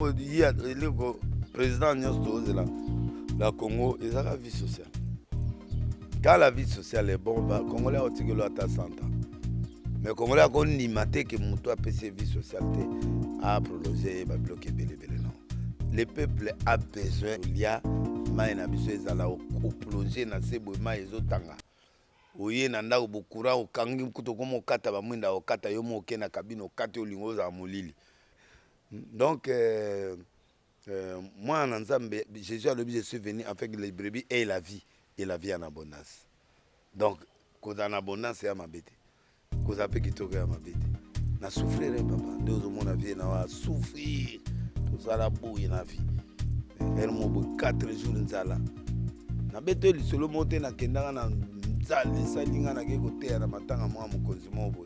eleko président nyonso tozela na congo ezaka vie sociale quand la vie sociale est bon bacongolais akotikelo ata 100 ans mais congolais akondima te ke moto apesi vie sociale te aprolonge ye babiloko ebelebele non le peuple a besoin lia mai na biso ezala oplonge na se boye mai ezotanga oye na ndako bokura okangi kutu okoma okata bamwinda okata yo moke na kabine okati olingo ozala molili Donc, euh, euh, moi, en Nzambe, Jésus a dit, je suis venu en fait les brebis et la vie, et la vie en abondance. Donc, cause en abondance, c'est à ma bête. Cause à peu qui toque à ma bête. Na souffrir, hein, papa. Deux au monde, la vie, na souffrir. Tout ça, la bouille, la vie. Elle m'a dit, quatre jours, nzala. Na bête, le solo monté, na kendanga, na nzala, sali, na ke kote, na matanga, moi, mon consumo, boy.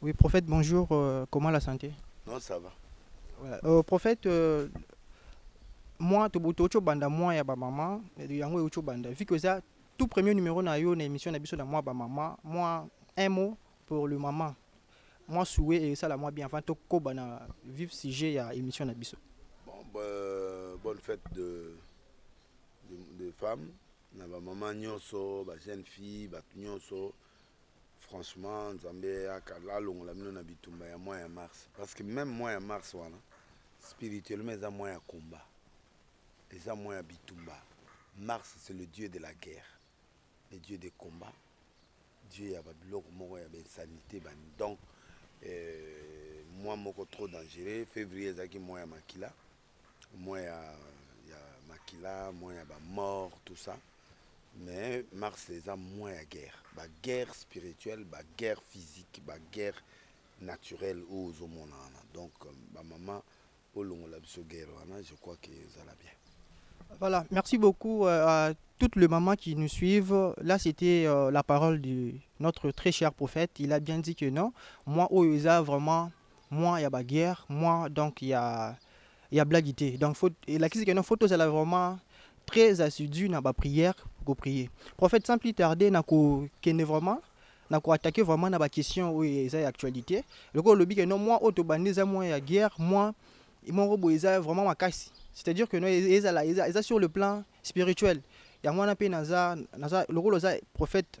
Oui, prophète, bonjour. Euh, comment la santé Non, ça va. Voilà. Euh, prophète, euh, moi, tu as banda moi ya ba maman, yango euti banda. Vu que ça, tout premier numéro na yo na émission na biso na moi ba maman, moi un mot pour le maman. Moi souhait et ça la moi bien avant to koba na vivre sujet ya émission na biso. Bon, bah, bonne fête de de, de femmes na ba maman nyonso, ba jeunes filles, ba nyonso. franchement nzambe yaka alongola bino na bitumba ya mois ya mars parce que même mois ya mars wana spirituellement eza mois ya combat eza mois ya bitumba mars c'est le dieu de la guerre le dieu de combat dieu ya babiloko moko ya bainsanité bani donc euh, mois moko trop dangereux février ezalaki mois ya makila moins ya, ya makila moins ya bamort tout ça mais mars eza moins ya guerre baguerre spirituelle baguerre physique baguerre naturelle oyo ozomona wana donc euh, bamama olongola biso guerre wana je crois que ezala bien Voilà, merci beaucoup euh, à toutes les mamans qui nous suivent. Là, c'était euh, la parole de notre très cher prophète. Il a bien dit que non, moi, Oyoza, vraiment, Mois ya ba guerre, mois donc ya ya blague te. Donc faut elakisi que non faut tozala vraiment très assidu na ba prière ko prier. Prophète sans plus tarder na ko kende vraiment na ko attaquer vraiment na ba questions oyo eza ya actualité. Loko lobi que non mois oyo tobandi eza mois ya guerre, mois moko boye eza vraiment makasi. C'est-à-dire que non ezala eza, eza sur le plan spirituel. Yango wana mpe naza naza lokola oza prophète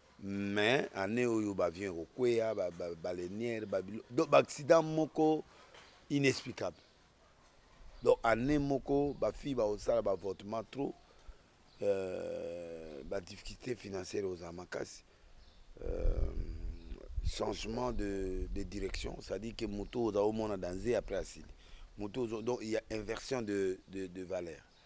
mais annee oyo ba avion ekokweya ba baleinière ba bilo donc ba accident moko inexplicable donc année moko ba fille ba osala ba avortement trop euh, ba difficulté financière ozala makasi euh, changement de, de direction c'est à dire que moto oza omona danze après asili moto donc il y a inversion de, de, de valeur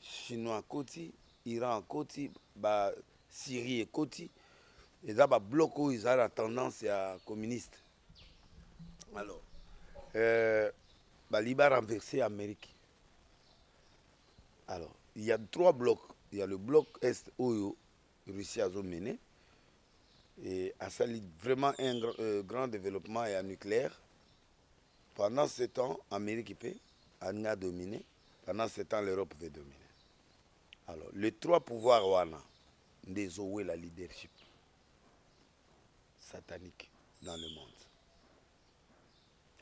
chinois akoti iran akoti ba syrie ekoti eza ba bloc oyo eza na tendance ya communiste alors euh, bali ba renverse amérique alors il y a trois blocs il y a le bloc est oyo russie azomene et asali vraiment un euh, grand développement ya nucléaire pendant ce temps amérique mpe alingi adomine Pendant ce temps l'Europe veut dominer. Alors les trois pouvoirs wana nde ezowela leadership satanique dans le monde.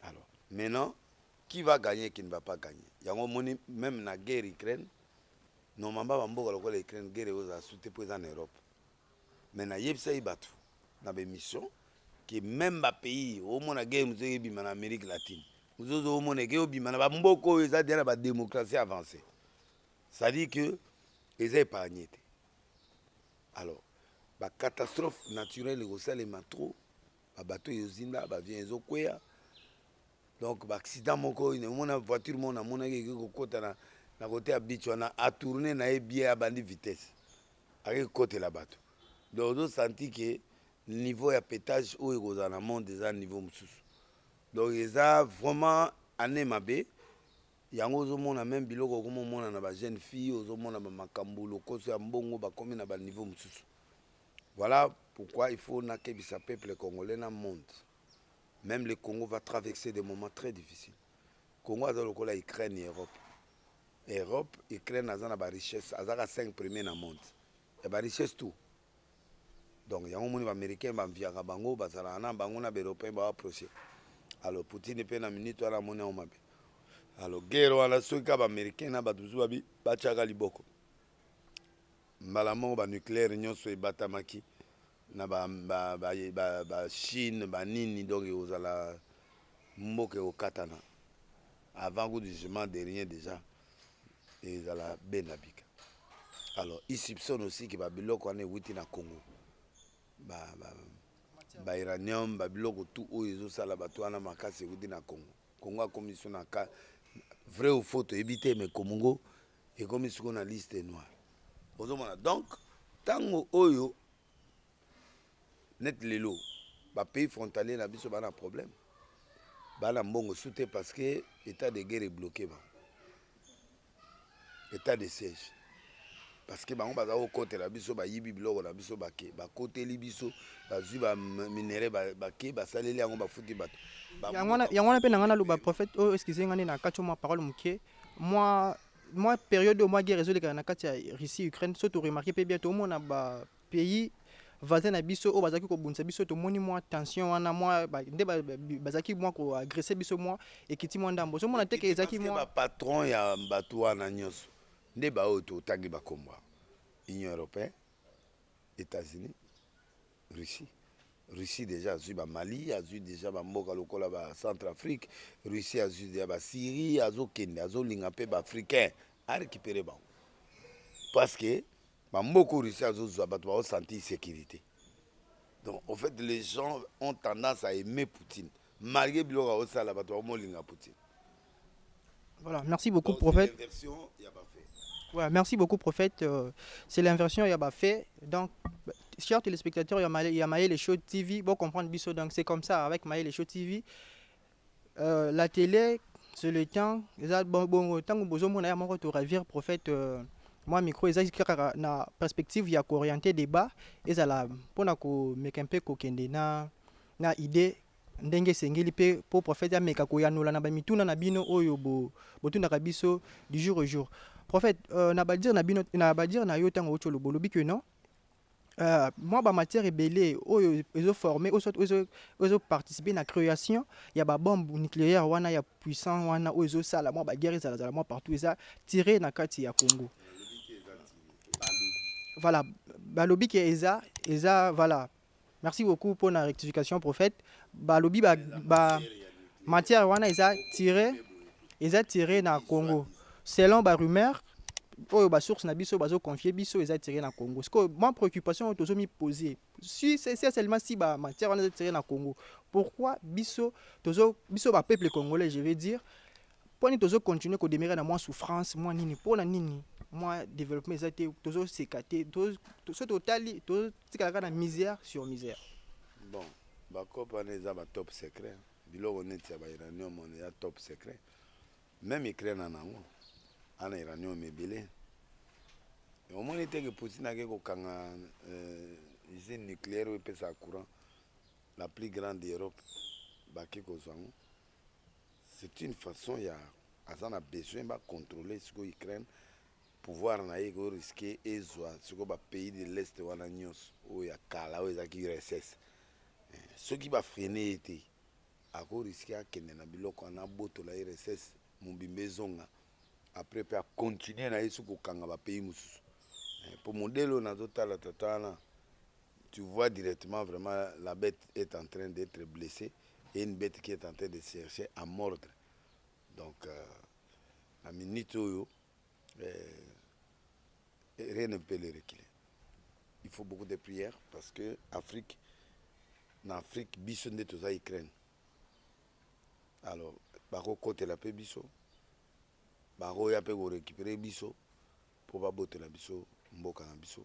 Alors maintenant qui va gagner qui ne va pas gagner yango omoni même na guerre Ukraine normalement bamboka lokola Ukraine guerre ekozala sute mpo eza na Europe mais na yebisa ye batu na ba émission que même ba pays au mona guerre muzo ebima na Amérique latine muzo zo mona que obima na ba mboko oyo eza déjà na ba démocratie avancée c'est à dire que eza épargné te alors ba catastrophe naturelle ekosalema trop ba bateau ezozinda ba avion ezokwea donc ba accident moko omona voiture moko namonaki eke kokota na, na kote ya beach wana atourne na ye bie abandi vitesse Aye kotela bato donc ozo sentir que niveau ya petage oyo ekozala na monde eza niveau mosusu donc eza vraiment année mabe yango ozomona meme biloko okomi omona na bajeune fille ozomona bamakambo lokoso ya mbongo bakomi na baniveau mosusu voilà pourquoi il faut nakebisa peuple congolais na monde meme le congo va traverser des moments très difficile congo aza lokola ukraine ya europe Europe Ukraine aza na ba richesse aza ka 5 premier na monde ya ba richesse tout donc yango moni ba américain ba mviaka bango bazalaka na bango na ba européen ba approche alors Poutine pe na minute wana amoni yango mabe alors guerre wana soki ka ba américain na bato mosusu babi batiaka liboko mbala moko ba nucléaire nyonso ebatamaki na ba, ba, ba, ba, ba chine banini donc ekozala mboka ekokatana Avant gout du jugement de rien déjà ezala benda bika. Alors il soupçonne aussi que ba biloko wana ewuti na Congo. Ba, ba, ba uranium ba biloko tout oyo ezosala bato wana makasi ewuti na Congo. Congo akomi so na ka vrai ou faux toyebi te mais Congo ekomi siko na liste noire. Ozomona donc ntango oyo neti lelo bapays frontalier na biso baa na problème baa na mbongo su te parce que état de guerre ebloke bango état de siège parce que bango baza kokotela biso bayibi biloko na biso bake bakoteli biso bazwi baminere bake basaleli yango bafuti bato yango wana mpe nanga naloba prophète oyo oh, excuse nga nde na kati mwa parole moke mwa mwa periode oyo mwa guerre ezolekana na kati ya russie ukraine so toremarke mpe bien toomona bapays voisin na biso oyo bazalaki kobundisa biso tomoni mwa tension wana mwa nde bazalaki mwa koagresse biso mwa ekiti mwa ndambo ozomona teke ezalaki mwa bapatron ya bato wana nyonso nde baoyo totangi bakombo union européenne Etats-Unis, Russie. Russie deja azwi ba Mali, azwi deja ba mboka lokola ba Centre Afrique, Russie azwi deja ba Syrie, azokende azolinga mpe ba Africain a récupérer bango parce que ba mboka oyo Russie azozwa bato bao sentir sécurité. Donc au fait les gens ont tendance à aimer Poutine malgré biloko aosala bato baomolinga Poutine. Voilà, merci beaucoup Donc, prophète. Voilà, merci beaucoup prophète. Euh, c'est l'inversion il y a pas fait. Donc chers téléspectateurs, il y a Maël Show TV, bon comprendre biso donc c'est comme ça avec Maël Show TV. Euh, la télé c'est le temps, bon bon tant que bozo mona moko to ravir prophète euh, moi micro eza kaka na perspective ya ko orienter débat ezala pona ko meka un peu ko kende na na idée ndenge esengeli mpe mpo profete ameka koyanola na bamituna na bino oyo botunaka biso du jour au jour profete euh, na badire na bino na badire na yo ntango outi oloba olobi ke non euh, mwa bamatière ebele oyo ezoforme ezoparticipe na création ya babombe nucléaire wana ya puissant wana oyo ezosala mwa baguerre ezalazala mwa partout eza tire na kati ya congo voilà balobi ke eza eza voilà Merci beaucoup pour la rectification prophète. Ba lobi ba, ba matière wana eza tiré eza tiré na Congo. Selon ba rumeur oyo ba source na biso bazo confier biso eza tiré na Congo. Ce que ma préoccupation tozo mi poser si c'est seulement si ba matière wana eza tiré na Congo. Pourquoi biso tozo biso ba peuple congolais je veux dire Mpo nini tozo continuer ko demeurer na mwa souffrance mwa nini mpo na nini mwa développement eza te tozo seka te to- to- soki totali totikalaka na misère sur misère bon bacope wana eza ba top secret biloko neti ya ba uranium wana eza top secret meme ukraine ana yango ana uranium ebele omoni te ke poutine ake kokanga euh, usine nucléaire oyo epesaka courant la plus grande europe bake kozwa yango C'est une façon ya aza na besoin ba contrôler siko Ukraine pouvoir na ye ko risquer ezwa siko ba pays de l'est wana nyonso oyo ya kala oyo ezalaki URSS eh, soki ba freine ye te ako risquer akende na biloko wana abotola URSS mobimba ezonga après mpe acontinue na ye soki kokanga ba pays mosusu mpo eh, modele oyo nazotala tata wana Tu vois directement vraiment la bête est en train d'être blessée et une bête qui est en train de chercher à mordre. Donc, euh, la minute où euh, rien ne peut le reculer. Il faut beaucoup de prières parce que Afrique, en Afrique, biso nde toza Ukraine. Alors, bako kotela pe biso, bako ya pe ko récupérer biso pour babotela biso mboka na biso.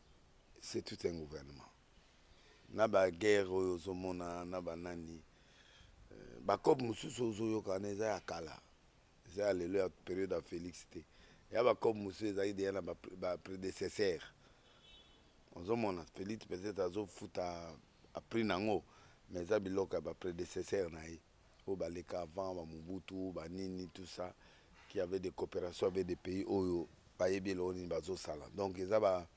c'est tout un gouvernement na baguerre oyo ozomona na banani euh, bacope mosusu ozoyoka wana eza ya kala eza ya lelo ya periode ya félix te ya bacope mosusu ezalaki deya na baprédécesseur ozomona félix peut-être azofuta apris nango mais eza biloko ya baprédécesseur na ye oyo baleka avant ba Mobutu ba nini tout ça qui avait des coopérations avec des pays oyo bayebi eloko nini bazosala donc eza ba,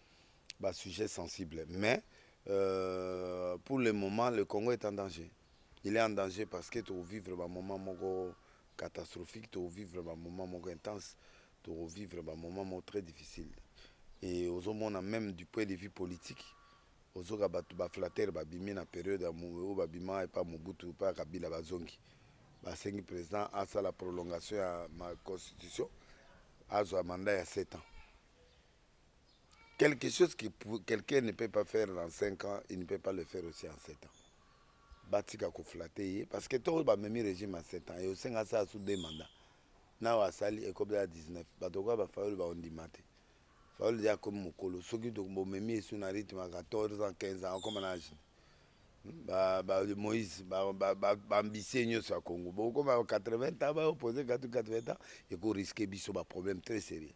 ba sujet sensible mais euh, pour le moment le Congo est en danger il est en danger parce que tovivre bamoment moko catastrophique tovivre bamoment moko intense tovivre bamoment moko très difficile et ozomona même du point de vue politique Ozoka batu ba flatteur ba bimi na periode ya mu oyo ba bima epa Mobutu epa ya Kabila ba zongi ba sengi president asala prolongation ya ma constitution azwa mandat ya 7 ans quelque chose qui quelqu'un ne peut pas faire dans 5 ans il ne peut pas le faire aussi en 7 ans batika ko flatter ye parce que to ba memi régime en 7 ans et osenga sa sous deux mandats nao asali ekobela 19 bato kwa ba fayulu ba ondima te Fayulu deja akomi mokolo soki bomemi esu na rythme ya 14 ans 15 ans akoma na age hmm, ba, ba Moïse baambisie ba, ba, nyonso ya Congo bokoma 80 ans baopose 80 ans eko risque biso ba problème très sérieux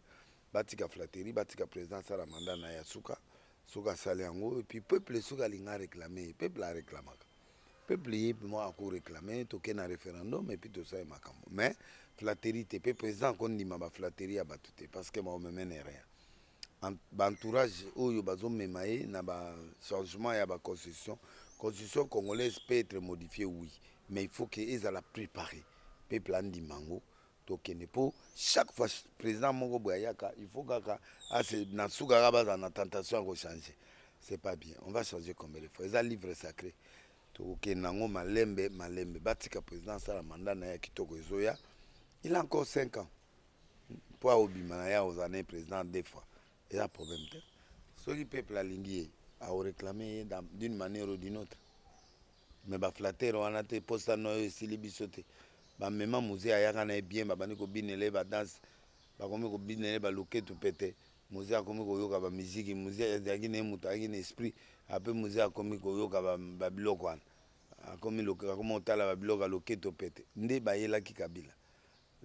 batika flatterie batika président asala mandat na ya suka soki asali yango epuis peuple soki alinga réclame peuple aréclamaka peuple ye moi ako réclamer toke na référendum et puis tosala makambo mais flatterie te mpe président akondima ba flatterie ya bato te parce que baomemene rien baentourage oyo bazomema ye na bachangement ya baconstitution constitution congolaise peut être modifie oui mais il faut ke ezala préparé peuple andima yango tokende mpo chaque fois président moko boye ayaka il faut kaka ase na suka kaka bazala na tentation ya kochange c'est pas bien on va changer combien de fois eza livre sacré tokokende yango malembe malembe batika président asala manda na ye kitoko ezoya il a encore 5 ans mpo aobima na ye akozala na ye président deux fois eza problème te soki peuple alingi ye aoreklame ye d'une manière ou d'une autre me ba flatere wana te posa no oyo esili biso te bamema muze ayaka na ye bien babandi kobinela ye badanse bakomi kobinela ye baluketu pete muze akomi koyoka bamiziki muze azalaki na ye moto ayaki na esprit ape muze akomi koyoka babiloko wana akomi akomi kotala babiloko ya loketo pete nde bayelaki kabila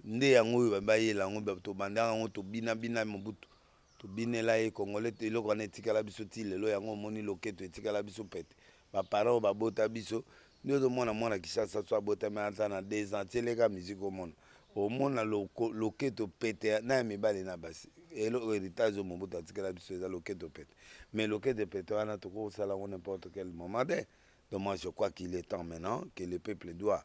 nde yango oyo bayela yango tobandaka yango tobinabina mobutu tobinela ye congolais to eloko wana etikala biso ti lelo yango omoni loketo etikala biso pete baparent oyo babota biso nde ozomona mwana kishasa so abotami aza na deux ans tieleka miziki omona omona loketo pete na ya mibali na basi eloko heritage oyo mobutu atikala biso eza loketo pete mais loketo pete wana tokosala yango n'importe quel moment te donc moi je crois qu'il est temps maintenant que le peuple doit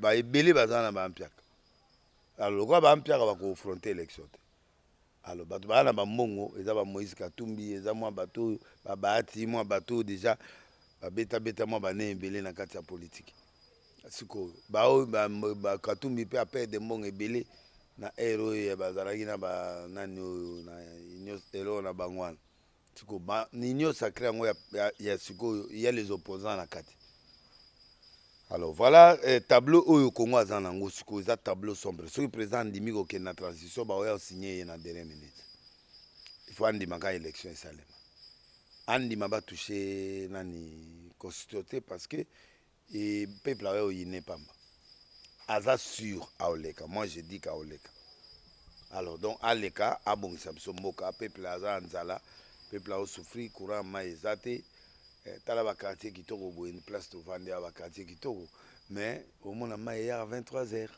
baebele baza na bampiaka alo lokola bampiaka bakofronte élection te alo bato baa na bambongo eza ba moïse katumbi eza mwa bato oyo babaati mwa bato oyo deja babetabeta mwa bane ebele na kati ya politiki sikoyo baoyo bakatumbi mpe apede mbongo ebele na ere oyo bazalaki na banani oyo na union eloo na bango wana Siko ba union sacrée yango ya, ya, ya sikoyo ya les opposants na kati alors voilà eh, tableau oyo congo aza na yango sikoyo eza tableau sombre soki président andimi kokende na transition baoya osigne ye na dernier minute il faut andima ka élection esalema andima batouche nani constitution te parce que Et peuple awe oyine pamba. Aza sur aoleka. Moi je dis qu'aoleka. Alors donc aleka abongisa biso mboka peuple aza anzala peuple ao souffrir courant mai eza te eh, tala ba quartier kitoko boye ni place tovandi ya ba quartier kitoko mais omona mai ya 23 heures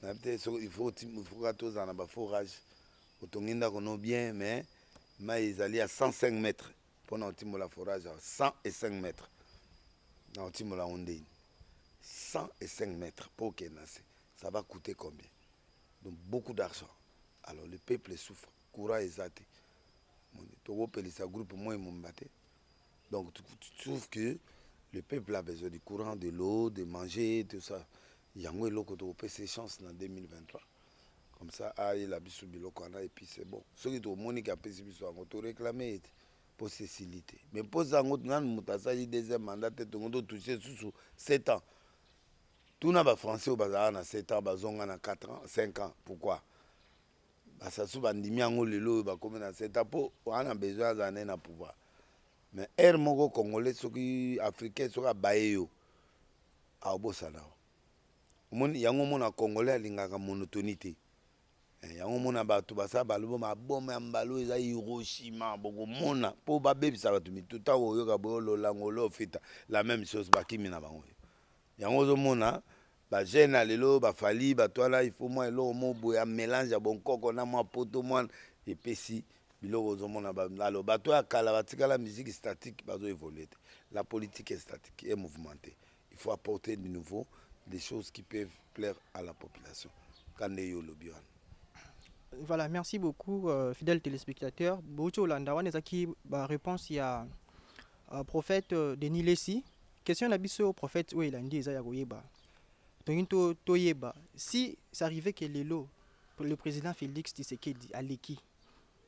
na te so il faut il faut ka tozana ba forage otongi ndako no bien mais mai ezali ya 105 mètres mpo na otimola forage ya 105 mètre na otimola yango ndeni 105 mètre mpo okende na se ça va coûter combien donc beaucoup d'argent alors le peuple souffre courant eza te tokopelisa groupe moi momba te donc tu, tu trouves que le peuple a besoin du courant de l'eau de manger tout ça yango eloko tokopesa chance na 2023 comme ça ayela biso biloko wana epuis c'est bon soki tomoni ke apesi biso yango to réclame ye te mpo sesili te mais mposa yango nanu moto asali deuxième mandat te tongo totouche susu 7 ans tuna bafrançais oyo bazalaka na 7 ans bazonga na 4 ans 5 ans pourquoi basasu bandimi yango lelo oyo bakomi na 7 ans mpo wana besoin azala nde na pouvoir mais heure moko congolais soki africain soki abaye yo aobosana yo Omoni yango mona congolais alingaka monotonie te. Eh, yango mona bato basala balobo maboma ya mbala oyo eza hiroshima bokomona mpo babebisa bato mitu ntango oyoka boyo lolango olo ofita la même chose bakimi na bango yango ozomona bajeune ya lelo bafali bato wana ifo mwa eloko mo boye ya mélange ya bonkoko na mwa poto mwana epesi biloko ozomona alo bato ya kala batikala musique statique bazoevolue te la politique est statique e mouvemente il faut apporter de nouveau des choses qui peuvent plaire à la population kande yo olobi wana voilà merci beaucoup euh, fidèle téléspectateur bouti olanda wana ezalaki baréponse ya euh, prophète euh, denis lesi question na biso prophète oyo elandi eza ya koyeba tongi to, toyeba si ça arrivait que lelo le président félix tshisekedi aleki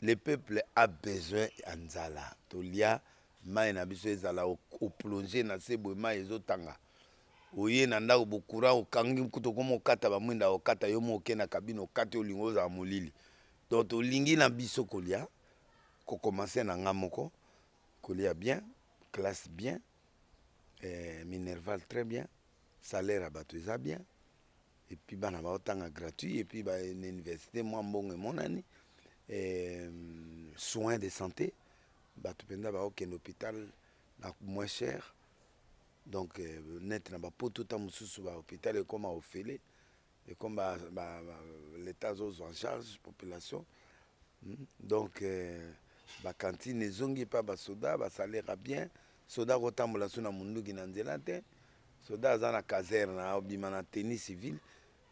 Le peuple a besoin ya nzala tolia mayi na biso ezala oplonge na se boye mayi ezotanga oye na ndako bokura okangi kutu okoma okata bamwinda okata yo mo oke na kabine okati olingo ozala molili donc tolingi na biso kolia kokomanse na nga moko kolia bien classe bien eh, minerval très bien salaire ya bato eza bien et puis bana baotanga gratuit et puis ba na université mwa mbongo emonani eh, soin de santé bato mpenza baokende hôpital na moins cher donc eh, neti na bapoto ta mosusu bahôpital ekoma ofele ekoma l'état azozwa en charge population hmm? donc eh, bakantine ezongi epai basoda basalera bien Soda ako tambola su na munduki na nzela te. Soda aza na caserne abima na tenue civile.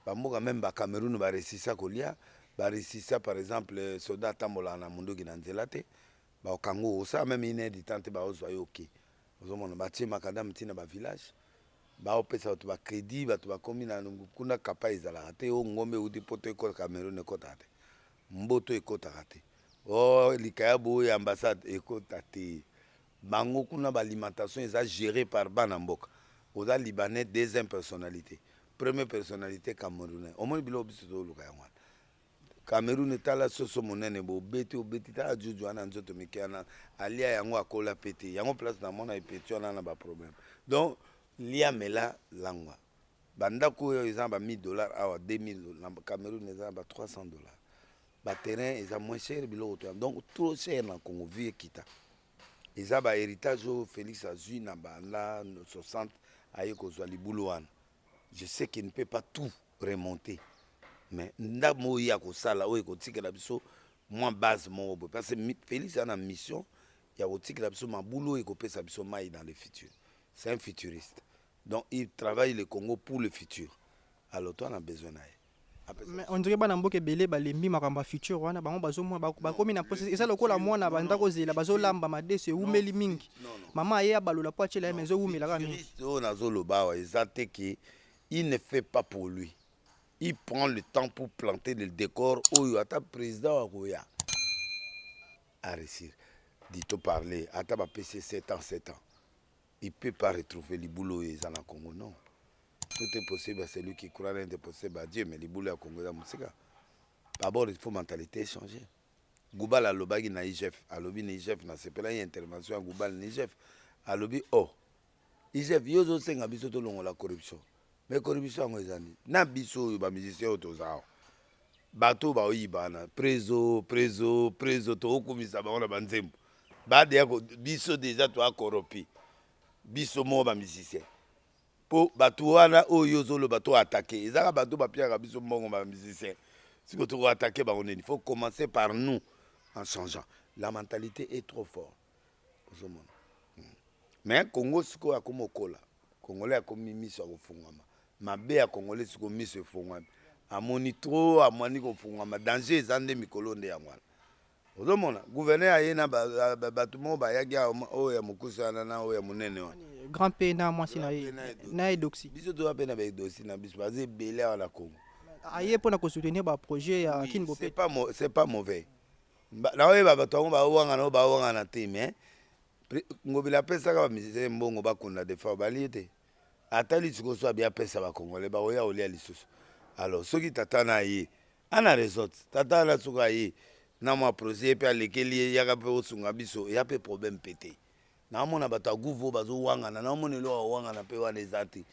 Ba mboka meme ba Cameroun ba resisa kolia, ba resisa par exemple soda atambola na munduki na nzela te. Ba okango osa meme une heure du temps te ba ozwa yo oke. Ozo mona ba tie makadam tina ba village. Ba opesa batu ba credit, batu ba komi na kuna kapa ezalaka te. O ngombe euti poto ekota Cameroun ekota te. Mboto ekotaka te. O likaya boye ambassade ekota te. Bango kuna ba alimentation eza gere par bana mboka oza libanais deuxième personnalite premier personnalite camerounais omoni biloko biso tozoluka yango wana cameroune tala soso monene bo obeti obeti tala juju wana nzoto mike wana alia yango akola pe te yango place namona epeti wana na baproblème donc lia mela langwa bandako oyo eza na ba 1000 dollars awa 2000 na cameroune eza na ba 300 dollars ba terrain eza moins cher biloko to donc trop cher na Congo vie ekita eza ba héritage oyo Felix azui na banda 60 aye kozwa libulu wana je sais qu'il ne peut pas tout remonter mais ndambo oyo ye akosala oyo ekotikela biso mwa base moko boye parce que Felix aza na mission ya kotikela biso mabulu oyo ekopesa biso mai dans le futur c'est un futuriste donc il travaille le Congo pour le futur alors toi na besoin na ye Mais on dirait bana mboka ebele balembi makambo ya future wana bango bazomona bako- bakomi na mposa eza lokola mwana banda kozela bazolamba madesu ewumeli mingi mama aye abalola mpo atyela ye ma ezowumela kaka mingi Futuriste oyo nazoloba awa eza te ke il ne fait pas pour lui il prend le temps pour planter le décor oyo ata président akoya aresir dito parler ata bapesi ye 7 ans 7 ans il peut pas retrouver libulu oyo eza na congo non tout est possible à celui qui croit rien n'est possible à Dieu mais libulu ya Congo eza mosika d'abord il faut mentalité changer Goubal alobaki na IGF alobi na IGF na sepela ye intervention ya Goubal na IGF alobi oh IGF yo zo senga biso to longola corruption mais corruption yango eza nini na biso oyo ba musiciens oyo toza awa bato baoyiba na prezo prezo prezo tokokumisa bango na banzembo badeya biso deja toakoropi biso moko ba musiciens Po batu wana oyo yo ozo loba to attaque eza kaka batu ba piaka biso mbongo ba musiciens siko toko attaque bango nini faut commencer par nous en changeant la mentalite est trop fort ozo mona mais congo sikoyo akomi okola congolais akomi miso ya kofungwama mabe ya congolais sikoyo miso efungwami amoni trop amwani kofungwama danger eza nde mikolo nde yango wana ozomona gouverneur aye na bato moko bayaki oyo ya mokuse wana na oyo ya monene wana grand p na mwasi na ye na edoxi biso toza mpe na baedoxi na biso baza ebele awa na congo aye mpo na kosoutenir baprojet ya kin bope c'est pas mauvais naoyeba bato yango bawangana oyo bawangana te mais ngobila apesaka bamusicien mbongo bakunda defa obali ye te ata lisikoso abi apesa bacongolais bakoya kolia lisusu alors soki tata na ye Ana resort tata ana suka ye na mwa projet ye mpe alekeli ye yaka mpe osunga biso ya mpe problème mpe te naomona bato ya guvo bazowangana naomona eloko ya kowangana mpe wana eza te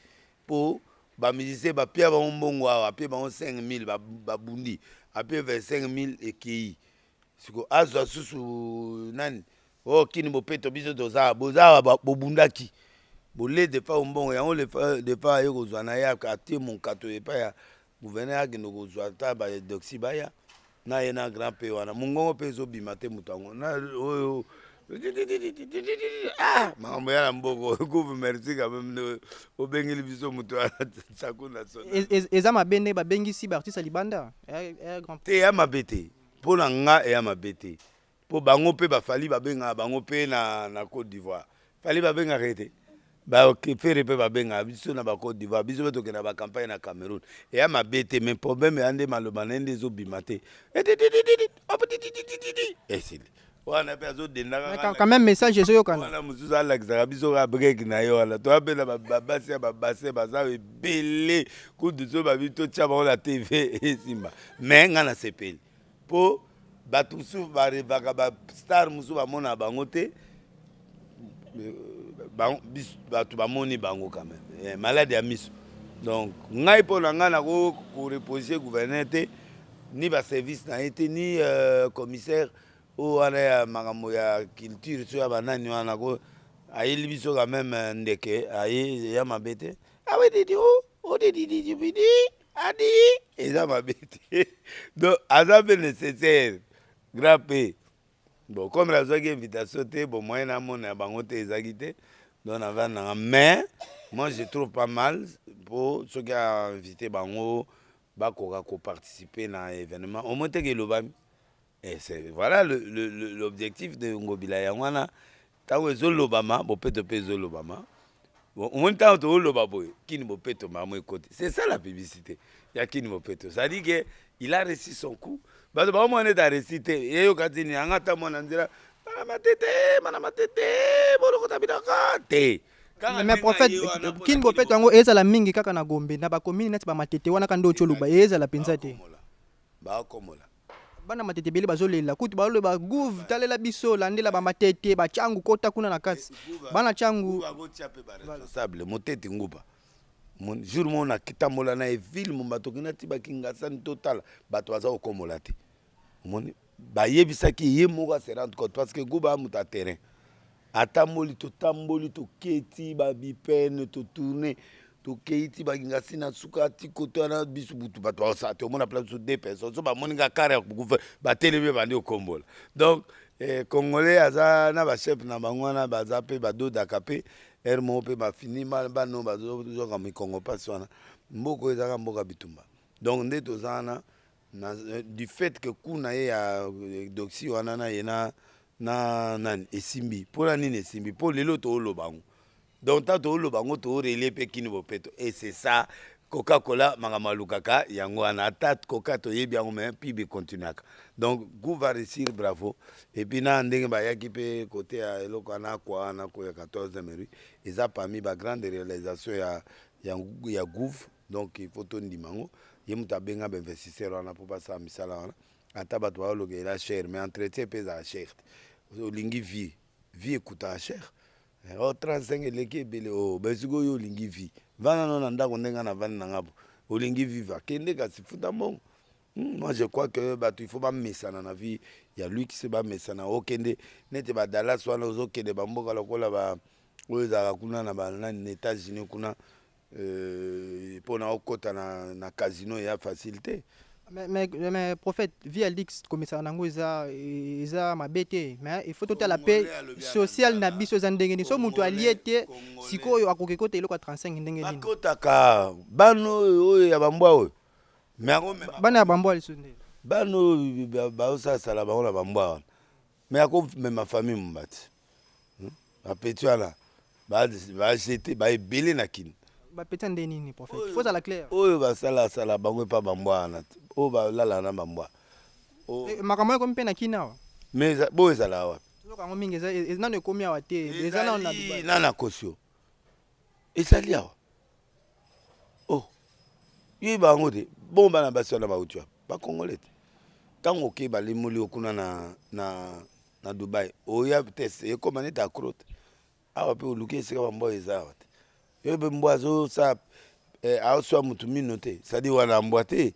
mpo bamusicien bapia bango mbongo awa apie bango 5000 ba- babundi apie 25000 ekei siko azwa susu nani o kini bopeto biso toza awa. boza awa ba- bobundaki bolede epai mbongo yango lefa- defa aye kozwa na ye ak- atie monkato epai ya Gouverneur akende kozwa ata ba doxy baya na ye na grand pe wana mongongo mpe ezobima te moto yango na oyo ah, makambo ya na mboko kuve merci quand même nde obengeli biso moto ya saku na sona E- e- eza mabe nde babengisi baartiste ya libanda Eh, eh, grand te eya mabe te mpo na nga eya mabe te Po bango pe ba Fally ba bengaka bango pe na na cote d'ivoire Fally ba bengaka ye te? Ba Ferre pe ba bengaka biso na ba cote d'ivoire biso pe tokendaka ba campagne na Cameroun eya mabe te mais problème eya nde maloba na ye nde ezo bima te etitititi opititititi esili wana pe azo dendaka Mais quand- quand même message ezoyokana wana mosusu alakisaka biso kaka brek na ye wana toya mpe na ba- babasi ya babase baza ebele kutu so babi totya bango na tv esimba me ngai nasepeli po bato mosusu barevaka bastar mosusu bamona bango te bato bamoni bango quand même eh, malade ya miso donc ngai mpo na ngai nako korepose gouverneur te ni baservice na ye te ni euh, commissaire oyo wana ya makambo ya culture so ya banani wana ko ayeli biso quand même euh, ndeke aye ya mabe te awedidi ah o oh, odidididibidi oh, adi eza mabe te donc aza mpe nécessaire grand p bon comme nazwaki invitation te bon moyen namona ya bango te ezalaki te donc navandi nanga mais moi je trouve pas mal mpo soki ainvite bango bakoka koparticipe na événement omoi teke elobami Et c'est voilà le, le, le, l'objectif de Ngobila yango wana ntango ezolobama bopeto mpe ezolobama omoni ntango tozoloba boye kini bopeto mamo ekoti c'est ça la publicité ya kini bopeto c'est-à-dire que il a réussi son coup bato baomona ete aresi te eyoka ti nini yanga ata mwana nzela mana matete mana matete bolokota bilaka te mais prophète kini bopeto yango ezala mingi kaka na gombe na bakomini neti bamatete wana ka nde otyoluba ezala mpenza te bakomola bana matete ebele bazolela kutu baloba gouv talela biso landela bamatete bacangu kota kuna na kati eh, bana cangu responsable motete nguba jour moko natambola na evile momba toki natiba kingasani totala bato baza kokomola te omoni bayebisaki ye moko aserante cote parce que guba amuta terrain atamboli totamboli toketi babipene totourne tokei ti bakinga si na suka ti koto wana biso butu bato baosa te omona place biso deux personnes so bamoni nga kare ya kukufa batelemi ebandi okombola donc eh, congolais aza na bachef na bango wana baza mpe badodaka mpe ere moko mpe bafini bano bazozoka mikongo mpasi wana mboka oyo ezalaka mboka bitumba donc nde toza wana na, euh, du fait que ku na ye ya euh, doxi wana na ye na na nani esimbi mpo na nini esimbi mpo lelo tooloba yango donc ntango tooloba yango toorelie mpe kini bopeto et c'est ça koka kola makambo alukaka yango wana ata koka toyebi yango me mpi bikontinuaka donc gu va réussir bravo epuis na ndenge bayaki mpe kote ya eloko wana akwa wana koya 14 mairie eza parmi bagrande réalisation ya ya, ya gouv donc il faut tondima yango ye moto abenga bainvestisseur wana mpo basala misala wana ata bato baoloka ela cher mais entretien mpe ezala cher te olingi vie vie ekutaka cher eh, o oh, 35 eleki ebele o oh, basiko oyo olingi vie vanda no na ndako ndenge na vandi na ngabo olingi viva kende kasi futa mbongo Hmm, moi je crois que bato il faut bamesana na vie ya luxe bamesana okende nete badalas wana ozokende bamboka lokola ba oyo ezalaka kuna na banani na états-unis kuna euh, mpo na okota na, na casino ya facile te mais, mais, mais prophète vie ya luxe komesana nango eza, eza mabe te mais il faut totala mpe social na biso eza ndenge nini so moto alie te sikoyo akoki kota eloko ya 35 ndenge nini bakotaka bano oyo ya bambwa oyo me ako mema bana ya bambwa lisusu nde bana oyo baosalasala bango na bambwa wana me ako mema famille mombati hmm? bapeti wana bajete baebele na kini bapeti ya nde nini prophète faut ala clair oyo basalasala bango epa bambwa wana oyo balala na bambwa eh, makambo ekomi mpe na kini awa me boyo ezala wapi yango mingi e, e, nano ekomi awa te eza nano na dubai nano akosi yo ezali awa oh yo bango te bon bana basi wana bauti wapi bakongole te ntango okei balimoli yo kuna na, na, na dubai oya test ekoma neti acrote awa mpe oluki esika bambwa eza awa te yo mpe mbwa azosala eh, aoswa motu mino te sadi wana mbwa te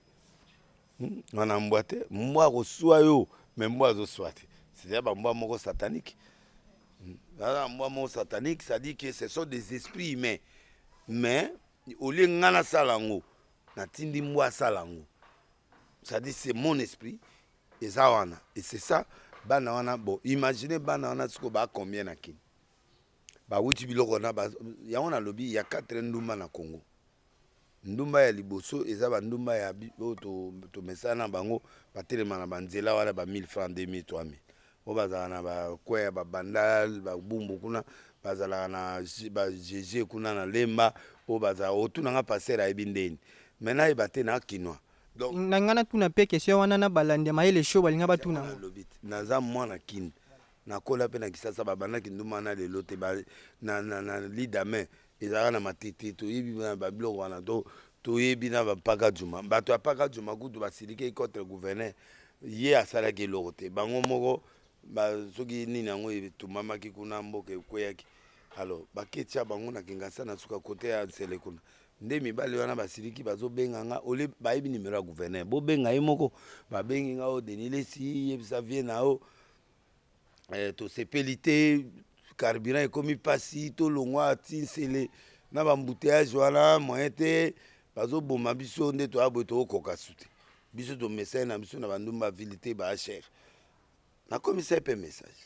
Hmm, wana mbwa te mbwa akosua yo me mbwa azosua te c'est-à-dire bambwa moko satanique hmm, aza mbwa moko satanique c'est-à-dire que ce sont des esprits humains mais olie ngai nasala yango natindi mbwa asala yango c'est-à-dire c'est mon esprit eza wana et c'est ça bana wana bon imagine bana wana sikoyo baa combien na kini bawuti biloko na yango nalobi ya 4 ndumba na congo ndumba ya liboso eza ba ndumba ya oyo tomesana na bango batelema na banzela wana ba 1000 francs 2000 3000 oyo bazalaka na bakweya babandal babumbu kuna bazalaka na bajeje kuna na lemba oyo bazala otuna nga paster ayebi ndeni me nayeba te na kinois donc na ngai natuna mpe question wana na balandi ya mayele show balinga batuna yango nalobi te. naza mwana kini nakola mpe na kisasa babandaki nduma na lelo te ba- na, na, na lidame ezalaka na matete toyebi na babiloko wana to toyebi na bampaka juma bato ya mpaka juma kutu basilikei contre gouverneur ye asalaki eloko te bango moko soki nini yango etumbamaki kuna mboka ekweyaki alors baketia bango na kingasa na suka kote ya nsele kuna nde mibali wana basiliki bazobenga nga ole bayebi nimero ya gouverneur bobenga ye moko babengi nga o oh, denilesi yebisa vie na yo eh, tosepeli te carburant ekomi mpasi tolongwa ti nsele na bambuteyage wana moyen te bazoboma biso nde toya boye tokokoka su te biso tomesani na biso na bandumba vile te baasher nakomisai mpe message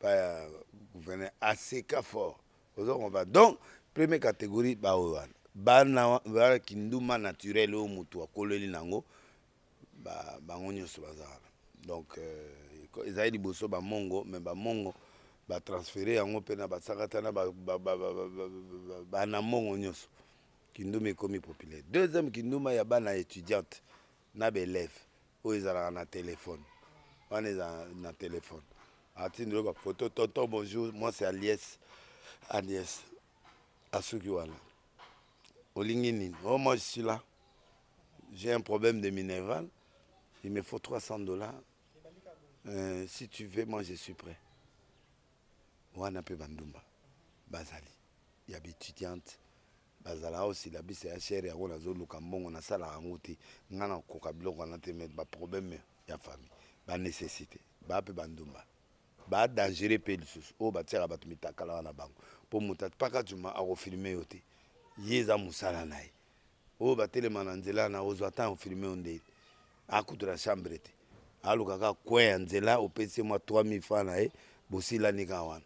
baya gouverneur aseka fort ozo comprendre donc premier catégorie baoyo wana bana wana kinduma naturel oyo motu akoleli nango ba bango nyonso bazalaka donc euh, ezali liboso bamongo me bamongo batransfere yango mpe na basakata na banamongo nyonso kinduma ekomi populaire deuxième kinduma ya bana étudiante na baelève oyo ezalaka na telefone wana ezala na telefone atindelo bafoto tonton bonjour mwasi alies alies asuki wana olingi nini o oh, moi je suis là J'ai un problème de minéral, il me faut 300 dollars. Euh, si tu veux, moi je suis prêt. Wana pe bandumba bazali ya étudiante bazala au syllabus ya cher yango nazoluka mbongo nasalaka yango te ngai nakoka biloko wana te mais baproblème ya famille banécessité baa mpe bandumba ba dangereux mpe lisusu oyo batiaka bato mitakala wana bango mpo moto atpaka juma akofilme yo te ye eza mosala na ye oyo batelema na nzela na ozwa temps ofilme yo nde akutu na chambre te aluka kaka kwe ya nzela opesi mwa 3000 francs na ye bosilani kaka wana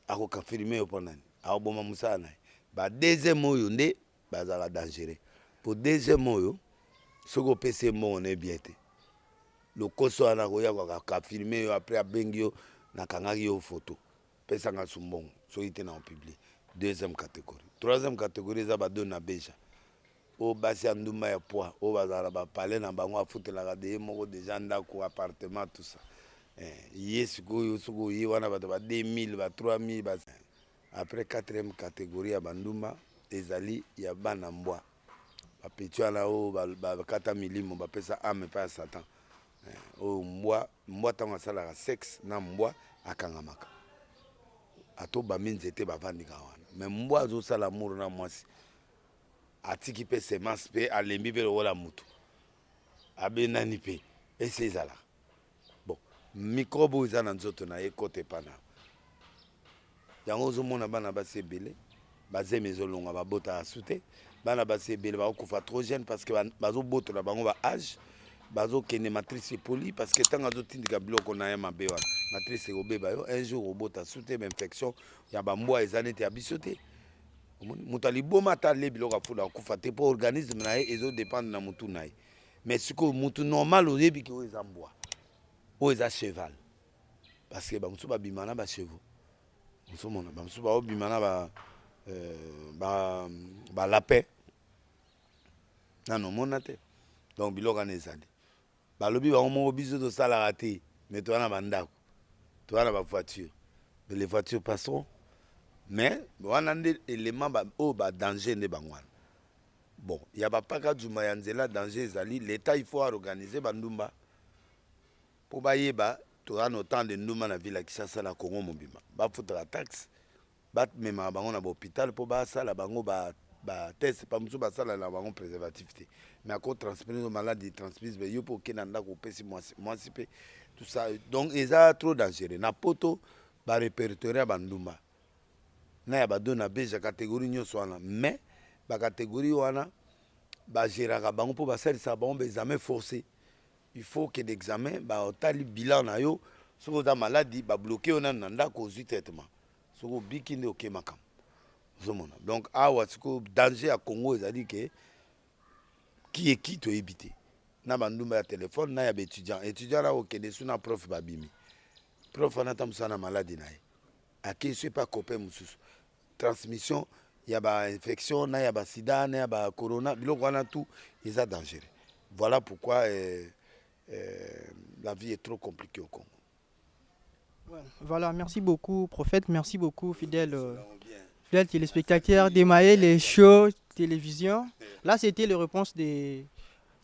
akoka filme yo mpo nani akoboma mosala na ye ba deuxième oyo nde bazalaka dangereux mpo deuxième oyo soki opesi ye mbongo na ye bien te lokoso wana akoya kaka filme yo apres abengi yo nakangaki yo foto pesa nga su mbongo soki te na opublie deuxième catégorie troisième catégorie eza bado na beja oyo basi ya ndumba ya poi oyo bazala na bapale na bango afutelaka de ye moko deja ndako appartement tout ça eh, ye sikoyo soki oye wana bato ba 2000 ba 3000 ba... après quatrième catégorie ya bandumba ezali ya bana mbwa bapeti wana oyo bakata milimo bapesa ame epai ya satan eh, oyo mbwa mbwa ntango asalaka sexe na mbwa akangamaka ato bambi nzete bavandika wana me mbwa azosala amour na mwasi atiki mpe semence mpe alembi mpe lokola motu abenani mpe esi ezalaka bon microbe oyo eza na nzoto na ye ekota epa na yango ozomona bana basi ebele bazemi ezolonga babota asu te bana basi ebele bakokufa trop jeune parce que bazobotola bango ba age bazokende matrice epoli parce que ntango azotindika biloko na ye mabe wana matrice ekobeba yo un jour obota su te bainfection ya bambwa eza neti ya biso te moto ya liboma ata alie biloko afula akufa te mpo organisme na ye ezodépendre na motu na ye mais sikoyo mutu normal oyebi ke oyo eza mbwa oyo eza cheval parce que bamosusu babima na bachevaux mosusu mona bamosusu baobima na ba, euh, ba, ba lapin nano omona te donc biloko wana ezali balobi bango moko biso tosalaka te mais toza na bandako toza na bavoiture mais les voitures passeront mais wana nde élément oyo badanger nde bango wana Bon, ya ba paka djuma ya nzela danger ezali l'etat il faut a organiser ba ndumba po bayeba toza na autant de ndumba na ville ya Kinshasa na Congo mobimba bafutaka taxe bamemaka bango na bahopital mpo basala bango ba, ba test pa mosusu basala na bango préservatif te mais ako transmise maladi transmise yo mpe okenda ndako opesi mwasi mwasi mpe tout ça donc eza trop dangereux na poto barepertoire ya bandumba na ya ba dona beja categorie nionso wana mais ba categorie wana ba geraka bango mpo basalisaka bango ba examen force il faut que d'examen batali bilan na yo soki oza maladi ba bloke yo nanu na ndako ozwi traitement soki obiki nde oke makambo ozomona donc awa sikoyo danger ya congo ezali ke kieki toyebi te na bandumba ya telefone na ya baétudiant étudiant na okende su na prof babimi prof wana ata mosala na maladi na ye Ake soki pa copain mosusu transmission ya ba infection na ya ba sida na ya ba corona biloko wana tout eza dangereux voilà pourquoi euh, euh, la vie est trop compliquée au Congo voilà merci beaucoup prophète merci beaucoup fidèle euh, fidèle téléspectateur de Maël et Show télévision là c'était les réponses des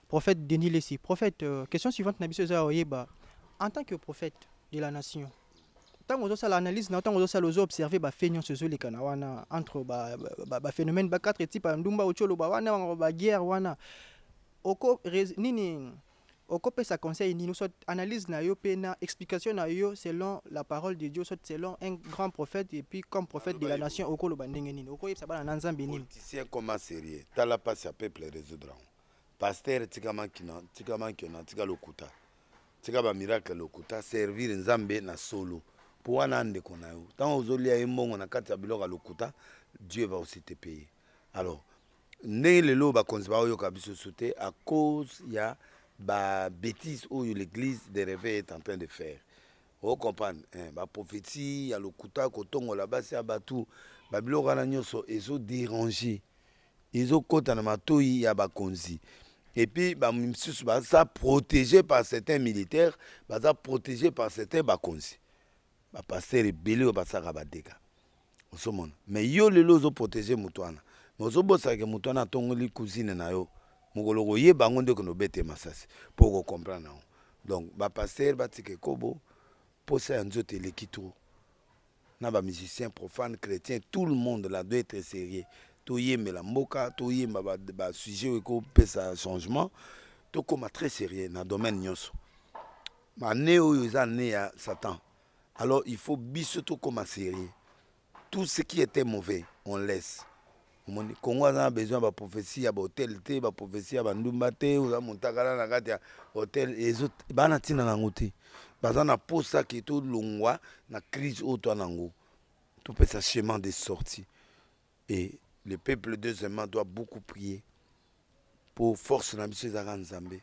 prophètes Denis Lessi prophète euh, question suivante na biso eza oyeba en tant que prophète de la nation ntango ozosala analyse na ntango ozosala ozo observe bafe nyonso ezolikana wana entre baphénomène ba, ba, ba quatre type ya ndumba oki oloba wana bango baguerre wana oko nini okopesa conseil nini soit analyse na yo mpe na explication na yo selon la parole de dieu soit selon un grand prophète et puis comme prophète de la nation okoloba ndenge nini okoyebisa bana na nzambe nini politicien koma sérieux tala mpasi ya peuple résoudre yango pasteur tika mankina tika mankina tika lokuta tika ba miracle lokuta servir nzambe na solo po wana ndeko na yo ntango ozolia ye mbongo na kati ya biloko ya lokuta dieu va aussi te paye alors ndenge lelo bakonzi baoyoka biso so te à cause ya ba bêtise oyo l'église de réveil est en train de faire o comprendre eh, ba prophétie ya lokuta kotongola basi ya bato babiloko wana nyonso ezo déranger ezo kota na matoyi ya bakonzi et puis ba misusu baza protégé par certains militaires baza protégé par certains bakonzi ba pasteur ebele oyo basaka ba dégâts osomona mais yo lelo ozo protégé moto wana mais ozo bosaka ke moto wana atongoli cousine na yo mokolo koyeba yango nde okende obete masasi mpo okocomprendre yango donc ba pasteur batika ekobo mposa ya nzoto eleki trop na ba musiciens profanes, chretiens, tout le monde là doit etre serieux. Toyembela mboka, toyemba ba, ba sujets oyo ekopesa changement, tokoma très serieux na domaine nyonso. Ma année oyo eza année ya Satan. Alors il faut biso tokoma serieux. Tout ce qui était mauvais, on laisse. omoni congo aza na besoin ya baprophesie ya bahotel te baprophesie ya bandumba te oza montakala na kati ya hotel ezo bana ntina na yango te baza na mposa ke tolongwa na crise oyo twa na yango topesa chemin de sortie et le peuple deuxièmement doit beaucoup prier mpo force na biso ezalaka nzambe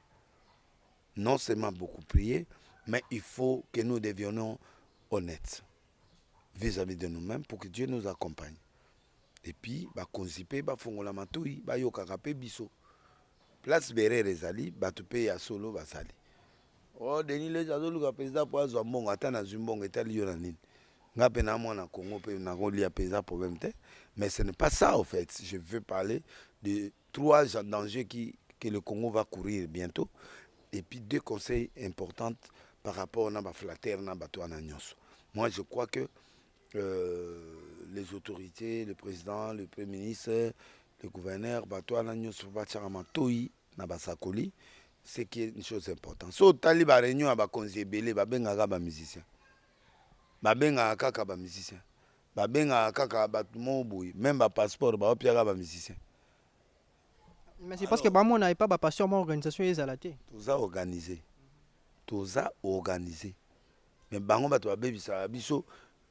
non seulement beaucoup prier mais il faut que nous devionnons honnêtes vis-à-vis -vis de nous-mêmes pour que dieu nous accompagne epuis bakonzi mpe bafongola matoi bayokaka mpe biso place berere ezali bato mpe ya solo bazali o oh, denis les azoluka mpenza mpo azwa mbongo ata nazwi mbongo etali yo na nini nga mpe na mwana congo mpe nakolia mpenza problème te mais ce n'est pas ça au fait je veux parler de trois dangers qui que le congo va courir bientôt et puis deux conseils importantes par rapport na baflatere na bato wana nyonso moi je crois que Euh, les autorités, le président, le premier ministre, le gouverneur, bato wana nyonso batyaka matoi na basakoli ce qui est une chose importante so otali bareunion ya bakonzi ebele babengaka bamusicien babengaka kaka bamusicien babengaka kaka bato moo boye meme bapasseport baopiaka bamusicien mais c'est parce que bamona epa bapasteur mwa organisation ezala te toza organise toza organise mais bango bato babebisaka biso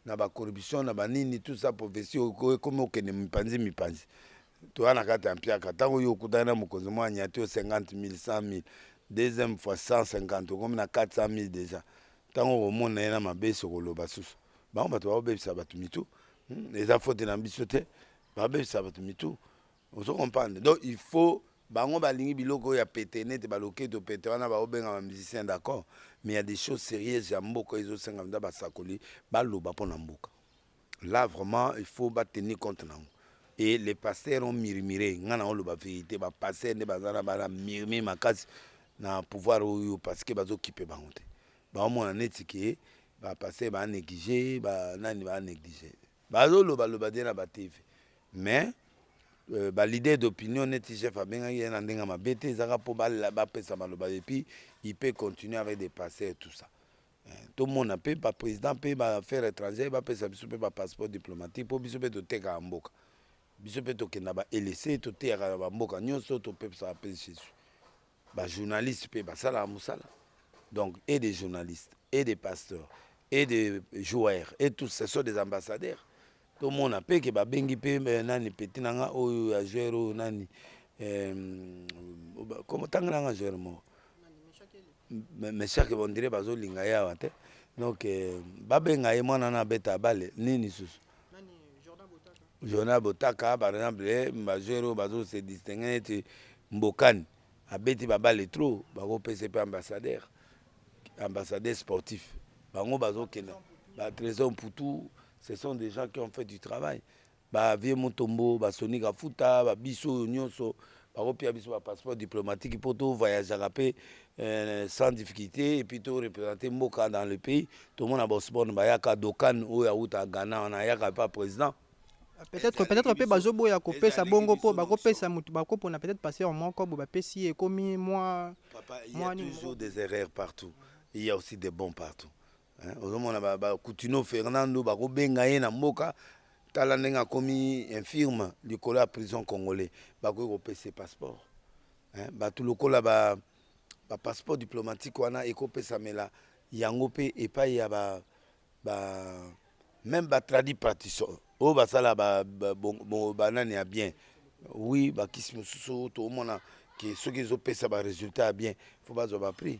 na ba corruption na banini tout ça prophetie ekomi okende mipanzi mipanzi toya na kati ya mpiaka ntango yo okutani na mokonzi mwa anyati yo 50 000 100 000 deuxième fois 150 okomi na 400 000 déjà ntango okomona ye na mabe sokoloba susu bango bato baobebisa bato mitu hmm, eza fote na biso te babebisa bato mitu ozo comprendre donc il faut bango balingi biloko oyo ya pete nete baloketo pete wana baobengama musicien d'accord mais ya des choses sérieuses ya mboka ezosenga mpenza basakoli baloba mpo na mboka là vraiment il faut batenir compte nango et les pasteurs ont murmuré ngai na oloba vérité bapasteur nde baza na bana murmure makasi na pouvoir oyo parce que bazokipe bango te baomona neti ke bapasteur baanéglige banani baanéglige Bazo loba loba de na ba TV mais Euh, ba leader d'opinion neti chef abengaki ye na ndenge mabe te ezaka mpo bapesa maloba et puis il peut continuer avec des passeurs et tout ça euh, tomona mpe baprésident mpe baaffaire étrangère bapesa biso mpe bapasseport diplomatique mpo biso mpe totekaka mboka biso mpe tokenda ba elese toteyaka na bamboka nyonso topesaka mpe jesus ba journalistes pe basalaka musala donc et des journalistes et des pasteurs et des joueurs et tous ce sont des ambassadeurs tomona mpe ke babengi mpe eh, nani peti na nga oyo ya joueur oyo nani tanga na nga joueur moko meshake bondire bazolinga ye awa te donc eh, babenga ye mwana na abeta bale nini susu Jordan Botaka par exemple eh, ba joueur oyo bazo se distingue neti Mbokani abeti ba balle trop bako pese pe ambassadeur ambassadeur sportif bango bazo kenda ba Trésor Mputu ce sont des gens qui ont fait du travail ba vieux Mutombo ba Sonic Afuta ba biso oyo nyonso bakopia biso ba passeport diplomatique mpo to voyageaka mpe euh, sans difficulté epuis to représente mboka dans le pays tomona bosbone bayaka dokan oyo awuta ghana wana ayaka mpe président peut-être peut-être mpe bazoboya kopesa bongo mpo bakopesa motu bakopona peut-être passeur moko bo bapesi ye ekomi mwa toujours des erreurs partout il y a aussi des bons partout Eh, ozomona bakutino fernando bakobenga ye na mboka tala ndenge akomi infirme likolo ya prison congolais bakoki kopesa passeport eh, bato lokola bapasseport ba diplomatique wana ekopesamela yango mpe epai ya ba, ba, meme batradi partition oyo basala banani ya bien wi bakisi mosusu toomona ke soki ezopesa baresultat ya bien fo bazwa baprix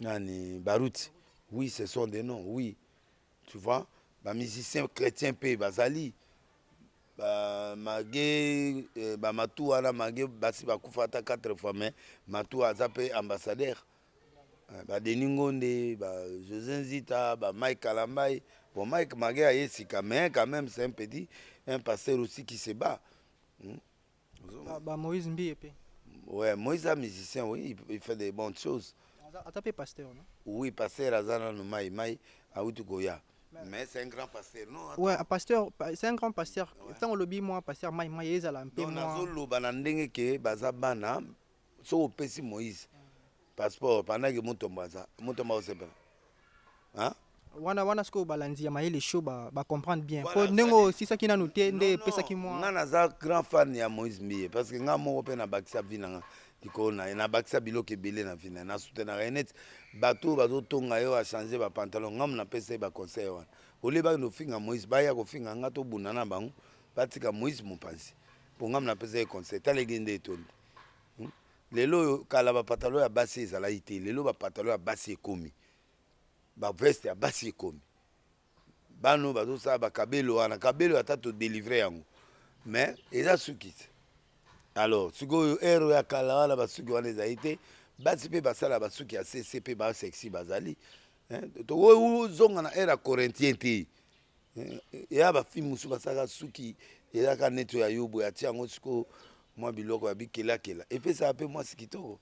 nani baruti oui ce sont des noms oui tu vois ba musiciens chrétiens pe bazali ba mage euh, ba matu wana mage basi bakufa ata 4 fois mais matu aza pe ambassadeur euh, ba Denis Ngonde ba José Nzita ba Mike Kalambaye bon Mike mage aye sika mais quand même c'est un petit un pasteur aussi qui se bat hmm? Ba, ba Moïse Mbiye pe. Ouais, Moïse a musicien, oui, il fait des bonnes choses. Ata pe pasteur, non? Oui, pasteur azana no mai mai autu koya. Mais c'est un grand pasteur. Non, attends. Ouais, pasteur, c'est un grand pasteur. Ouais. Tant lobi moi pasteur mai mai ezala un peu moi. Non, nazolo bana ndenge ke baza bana soki opesi moïse passeport pandaki mutombo aza mutombo akosepela wana wana sikoyo balandi ya mayele show bacomprendre ba bien mpo ndenge osisaki nanu te nde epesaki mwa nga naza grand fan ya moïse mbiye parce que nga moko mpe nabakisa vi na nga likolo na ye nabakisa biloko ebele na vi na ye nasutenaka ye neti bato oyo bazotonga ye oyo achange bapantalon ngamu napesa ye baconseil wana olie bakende kofinga moïse baya kofinga nga tobunda na bango batika moïse mopanzi mpo ngamu napesa ye conseil tala egende etondi hmm? lelo oyo kala bapatalo ya basi ezalaki te lelo bapatalo ya basi ekomi baveste ya basi ekomi bano bazosala bakabelo wana kabelo ata todelivre yango mais eza suki te alors sikoyo ero ya kala wana basuki wana ezali te basi mpe basala basuki ya cc mpe basexi bazali tozonga na ere ya corintien te eya bafilme mosusu basalaka suki ezalaka neto ya yobo ya ti yango sikoyo mwa biloko ya bikelakela epesaka mpe mwasi kitoko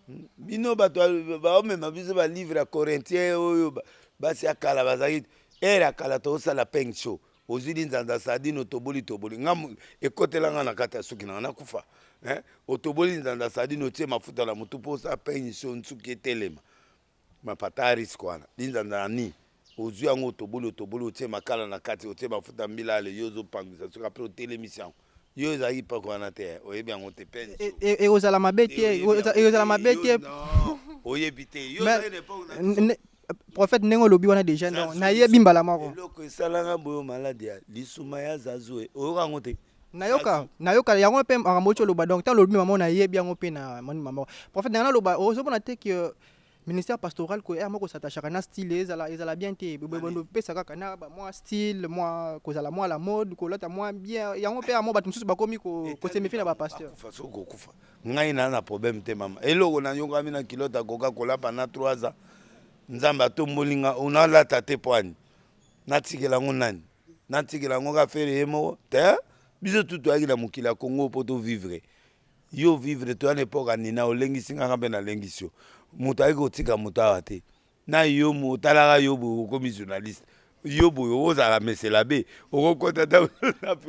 hmm? bino bato baomema biso balivre ya corintien oyo basi ya kala bazalaki ere ya kala tokosala peng show ozwi linzanza sardine otoboli toboli nga ekotela nga na kati ya suki nanga nakufa eh? otoboli linzanza sardine otie mafuta na motu mpo osala peng show nsuki etelema mapata risque wana linzanza na nini ozwi yango otoboli otoboli otie makala na kati otie mafuta mbila ale yo ozopangwisa soki apres otelemisi yango yo ezalaki pake wana te eh. oyebi yango te pene e, e, ekozala mabe te ekozala mabe te oyebi te yo prophète ndenge olobi wana deja nayebi mbala moko eloko esalanga boyo maladi ya lisuma ya zazue oyoka yango te nayoka nayoka yango mpe makambo oti oloba donc ntango olobi mama nayebi yango mpe na moni mama prophète nanga naloba ozomona te ke euh, ministère pastoral ko ere moko satachaka na style ezala ezala bien te bopesa kaka na mwa style mwa kozala mwa la mode kolata mwa bien yango mpe yango bato mosusu bakomi kosemefi na bapasteur kokufa ngai naa na problème te mama eloko nayokami na kilote akoka kolapa na 3 ans nzambe atomboli nga onalata te poani natikela yango nani natikela yango kaka fere ye moko te biso tu toyaki na mokili ya kongo mpo tovivre yo vivre toya na epoka nina olengisi ngaka mpe nalengisi yo moto ayaki kotika moto awa te na yo otalaka yo boye okomi journaliste yo boye ozala mesela be okokota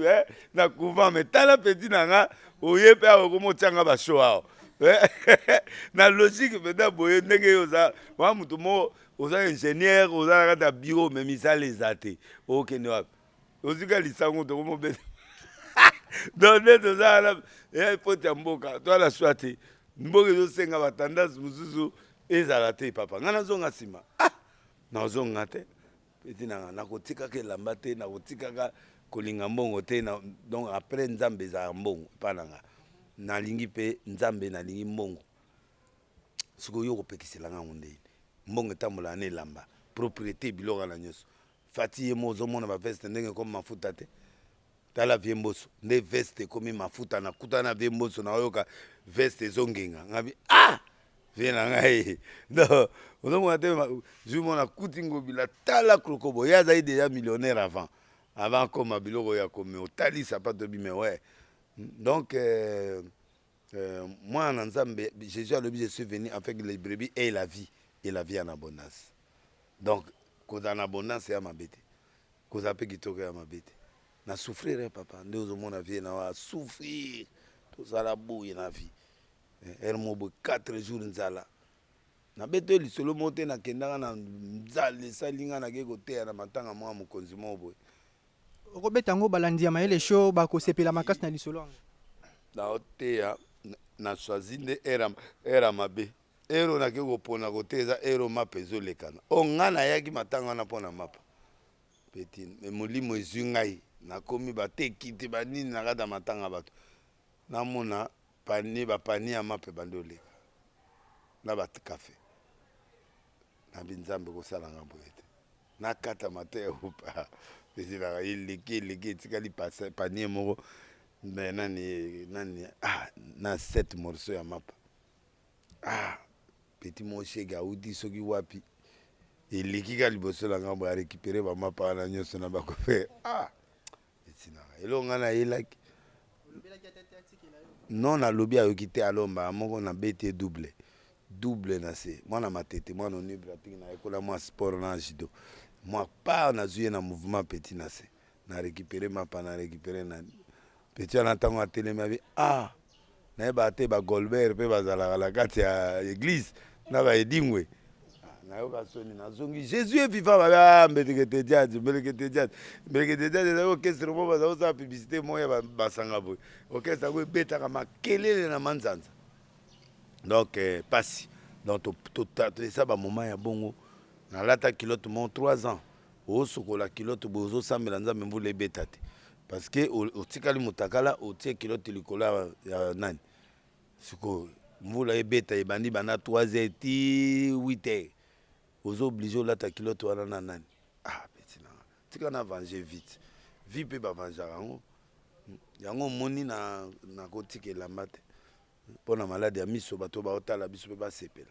eh, na couvent me tala peti na nga oye mpe awa okomi otyanga basho awa eh, na logique mpenza boye ndenge yo oza wa moto moko oza ingénieur oza na kati ya bureau me misala eza te okende wapi ozika lisango tokomobeta donc nde toza wana eya epoti ya mboka to ala swa te mboka ezosenga batandance mosusu ezala te papa ngai nazonga nsima ah nazonga te peti nanga nakotikaka elamba te nakotikaka kolinga mbongo te na, donc après nzambe ezalaka mbongo epa nanga nalingi mpe nzambe nalingi mbongo sikoyo yo okopekisela ngai yango ndeni mbongo etambolaka na elamba propriété biloko na nyonso fati ye mo ozomona baveste ndenge ekomi mafuta te tala vie mboso nde veste ekomi mafuta nakuta na vie mboso naoyoka veste ezongenga ngabi ah vie na ngai donc ozomona te jour mona kuti ngobila tala krokobo ye azali deja millionnaire avant avant akoma biloko ya komi otali sapato bime we donc euh, Euh, mwana na nzambe jésus alobi je suis venu avec les brebis et la vie et la vie en abondance donc kozala na abondance ya mabe te kozala mpe kitoko ya mabe te na souffrir eh, papa nde ozomona vie na wa souffrir tozala boye na vie eh, ere mo boye 4 jours nzala nabeti oyo lisolo moko te nakendaka na nzala esali ngai nakei koteya na matanga mwa mokonzi moko boye okobeta yango balandi ya mayele show bakosepela makasi na lisolo yango naoteya na swazi nde era mabe ero nake kopona kote eza ero mapa ezolekana o oh, ngai nayaki matanga wana mpo na mapa peti me molimo ezwi ngai nakomi bateki te banini na kati ya matanga bato namona pani bapani ya mapa ebandi oleka na bakafe na binzambe kosala ngambo ete nakata mateya opa ezelaka eleki eleki etikali panie moko me nani nani ah, na set morceau ya mapa ah, peti moshege auti soki wapi eleki ka liboso na ngambo ya récupere bamapa wana nyonso na bakope ah, etinaka eloko ngai nayelaki non nalobi ayoki te alo mbala moko na bete double double na se mwana matete mwana onible atiki na ekola mwa sport na judo mwa part nazwi ye na mouvement petit na se na récupéré mapa na récupéré na petit wana ntango atelemi abi ah nayebaka te ba golbert mpe bazalaka na kati ya eglise na ba edingwe nayoka soni nazongi jésus est vivant babe ah, mbelekete jazz mbelekete jazz mbelekete jazz ezali orchestre moko bazali kosala publicité moko ya ba- basanga boye orchestre yango ebetaka makelele na manzanza donc eh, pasi donc to- to- ta- to- eza bamoment ya bongo nalata kilote mo 3 ans osokola kilote boye ozosambela nzambe mvula ebeta te parce que otikali mutakala otie kilote likolo ya nani sikoyo mvula ebeta ebandi banda 3 heures ti 8 heures ozo oblige olata kilote wana na nani ah peti nanga tika na vange vite vi mpe bavanjaka yango yango omoni na nakotika elamba te mpo na maladi ya miso bato baotala biso mpe basepela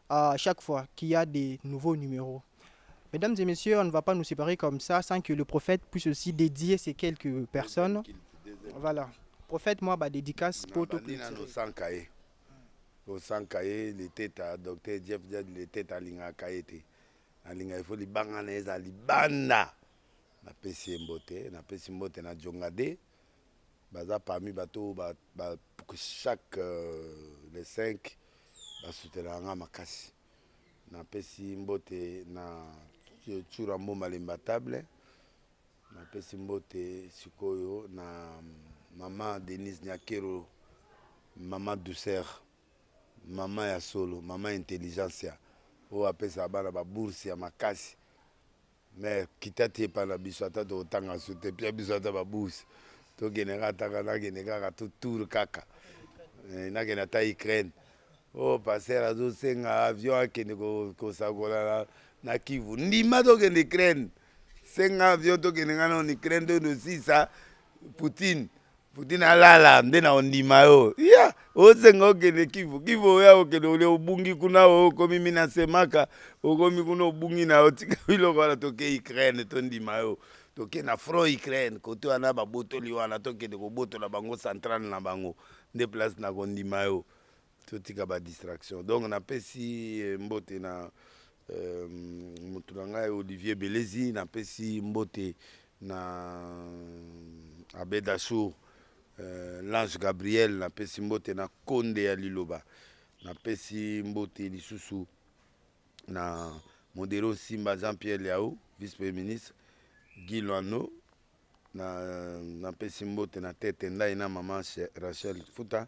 à chaque fois qu'il y a des nouveaux numéros. Mesdames et messieurs, on ne va pas nous séparer comme ça sans que le prophète puisse aussi dédier ces quelques personnes. Voilà. Prophète, moi, bah, dédicace pour tout le monde. osanga ye leteta docteur jeff jad leteta alingaka ye te nalinga ifo libanga na ye eza libanda napesi ye mbote napesi mbote na jongade baza parmi bato oyo ba, ba, chaque euh, le 5 basutenaka nga makasi napesi mbote na cura mboma lemba table napesi mbote sikoyo na mama denise nyakero mama douceur mama ya solo mama intelligencia oyo apesaka bana babourse ya makasi Mère kita te epa na biso ata tokotanga su te pia biso ata babus tokende kaka ataka nakende kaka to tour kaka eh, nakende ata Ukraine o oh, paster azosenga avion akende kosakola na, na Kivu ndima tokende Ukraine senga avion tokende ngai na Ukraine tonosisa Poutine Putin alala nde na ondima yo ya osenga okende kivu kivu oya okende olia obungi kuna okomi minasemaka okomi kuna obungi na yo tika biloko wana toke ukraine tondima yo toke na front ukraine kote wana babotoli wana tokende kobotola bango centrale na bango nde place na kondima yo totika ba distraction donc napesi eh, mbote na euh, motu na ngai olivier belezi napesi mbote na euh, abedasour euh, lange gabriel napesi mbote na konde ya liloba napesi mbote lisusu na modero simba jean pierre liao vice premier ministre guy loano napesi na mbote na tete ndai na mama rachel futa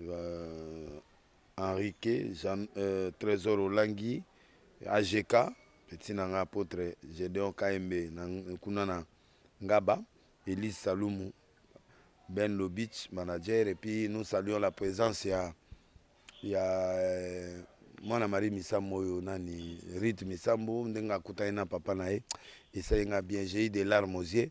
euh, Henrique Jean, euh, Trésor Olangi AGK petit na nga apôtre Gedeon Kaembe na kuna na Ngaba Elise Salumu Ben Lobich manager et puis nous saluons la présence ya ya euh, mwana marie misambo oyo nani rite misambo ndenge akutani na papa na ye esali nga bien j'ai eu des larmes aux yeux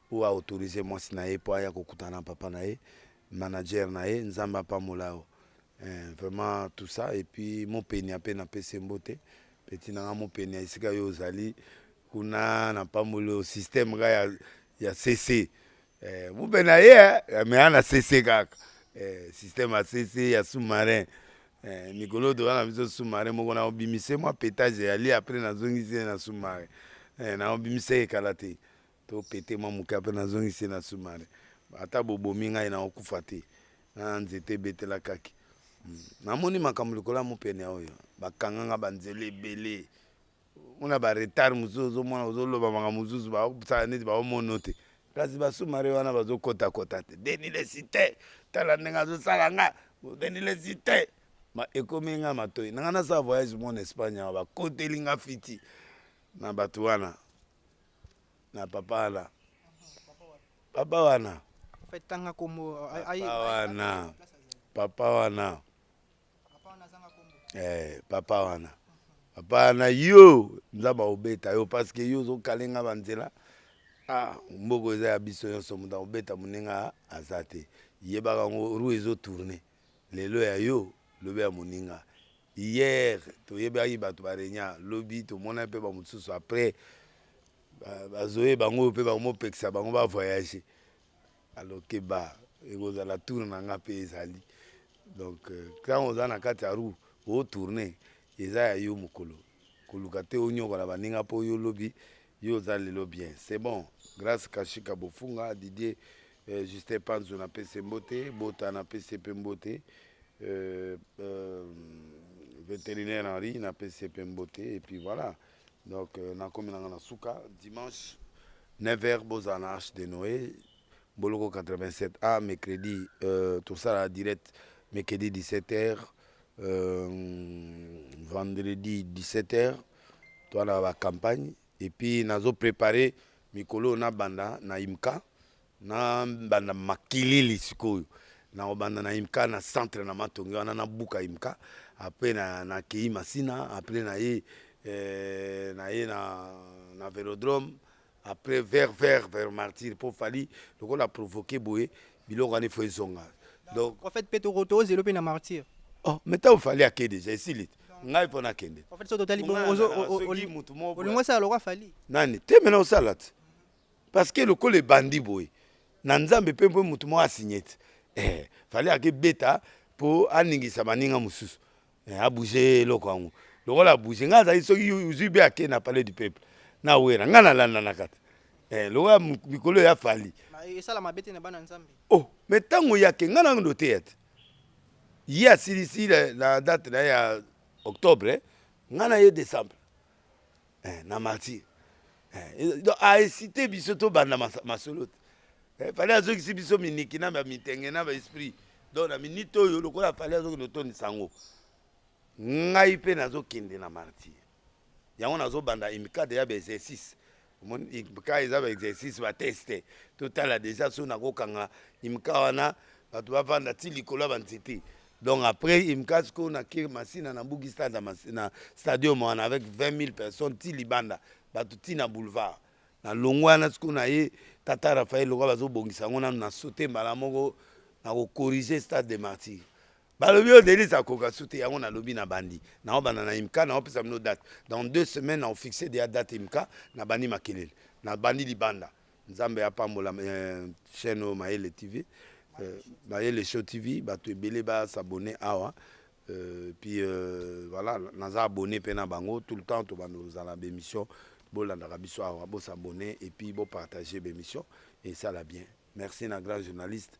oyo a autorise mwasi na ye mpo aya kokutana na papa na ye manager na ye nzambe apambola yo eh, vraiment tout ça et puis mopenia mpe napesi mbote peti na nga mopenia esika yo ozali kuna napamboli yo systeme ka ya, ya cc eh, mope na ye eh, mea na cc kaka eh, systeme ya cc ya sous-marin eh, mikolo toza na biso sous-marin moko na obimise mwa petage yali apres nazongisi ye na sous-marin eh, na obimise ye kala te To pete mwa moke ape nazongisi na sumare. Ata bobomi ngai naokufa te. Na nzete ebetela kaki. Hmm. Namoni makambo likolo ya mopene oyo. Bakanga nga banzela ebele. Mona ba retard mosusu ozomona ozoloba makambo mosusu basala neti baomono te. Kasi basumare wana bazokotakota te. Deni lesite tala ndenge azosala nga. Deni lesite ekomi nga matoi nanga nasala voyage mona espagne awa bakoteli nga fiti na bato wana na papa wana papa wana tanga kombo papa wana papa wana eh, papa wana papa wana yo nzambe akobeta yo parceke yo ozokale nga banzela ah, mboko eza ya biso nyonso moto akobeta moninga aza te yebaka yango rue ezotourne Lelo ya yo, lobi ya moninga. Hier toyebaki batu ba regna, lobi tomonaki pe ba mosusu après bazo yeba yango oyo pe bakomi kopekisa bango ba voyager. Alors keba ekozala tour na nga pe ezali donc tango oza na kati ya roue o tourner eza ya yo mukolo. koluka te onyokola baninga mpo yo lobi yo oza lelo bien c'est bon grâce kashika bofunga didier euh, justin panzo na pese mbote bota na pese mpe mbote euh, euh, vétérinaire henri na pese mpe mbote et puis voilà donc euh, nakomi nanga na suka dimanche 9 heures bozala na arche de noé Boloko 87 ah mercredi euh, tosala direct mercredi 17h euh, vendredi 17h toana ba campagne et puis nazo préparer mikolo na banda na imka na banda makilili sikoyo na obanda na imka na centre na matongi wana na buka imka après na na kei masina après na ye euh, na ye na na velodrome après vert vert vers martyr mpo fali lokola provoke boye biloko wana ifo ezonga donc prophète mpe tozelo mpe na martyr oh, mais ntango fali ake deja esili ngai mpo nakende olingo osala lokwa fali nani te mena osala te parce que lokola ebandi boye na nzambe mpe mpo motu moko asigne te eh, fali ake beta mpo aningisa baninga mosusu eh, abouge eloko yango lokola abouge ngai azali soki ozwi be ake na palais du peuple na wera ngai nalandanaka te eh, lokola mikolo ya fali esala mabe te na bana nzambe oh me ntango yake ngai nano ndoteya te ye asilisi na date na ye ya octobre ngai na ye décembre eh, na martyr eh, donc aesite biso tobanda masolo te eh, fale azokisi biso miniki na bamitenge na baesprit donc na minite oyo lokola fale azokende otondisa yango ngai mpe nazokende na martyr yango nazobanda imikade ya baexercice imka eza baexercice bateste totala deja so nakokanga imka wana bato bavanda ti likolo ya banzete Donc après Imkas ko na Kir Masina na Mbugi Stade na, Mas- na stadium wana avec 20 000 personnes ti libanda bato ti na boulevard na longwa wana sikoyo na ye tata Raphaël lokola bazobongisa yango nanu na saute mbala moko na kocorrige stade de martyr balobi yo Denise akoka su te yango nalobi na bandi naobanda na Imka naopesa bino date dans deux semaines naofixe deya date Imka na bandi makelele na bandi libanda Nzambe apambola euh, chaîne oyo Mayele TV euh, Mayele Show TV bato ebele ba s'abonner awa euh, puis euh, voilà naza abonné mpe na bango tout le temps tobanda kozala bémission bolandaka biso awa bosabonne et puis bopartage bémission esala bien merci na grand journaliste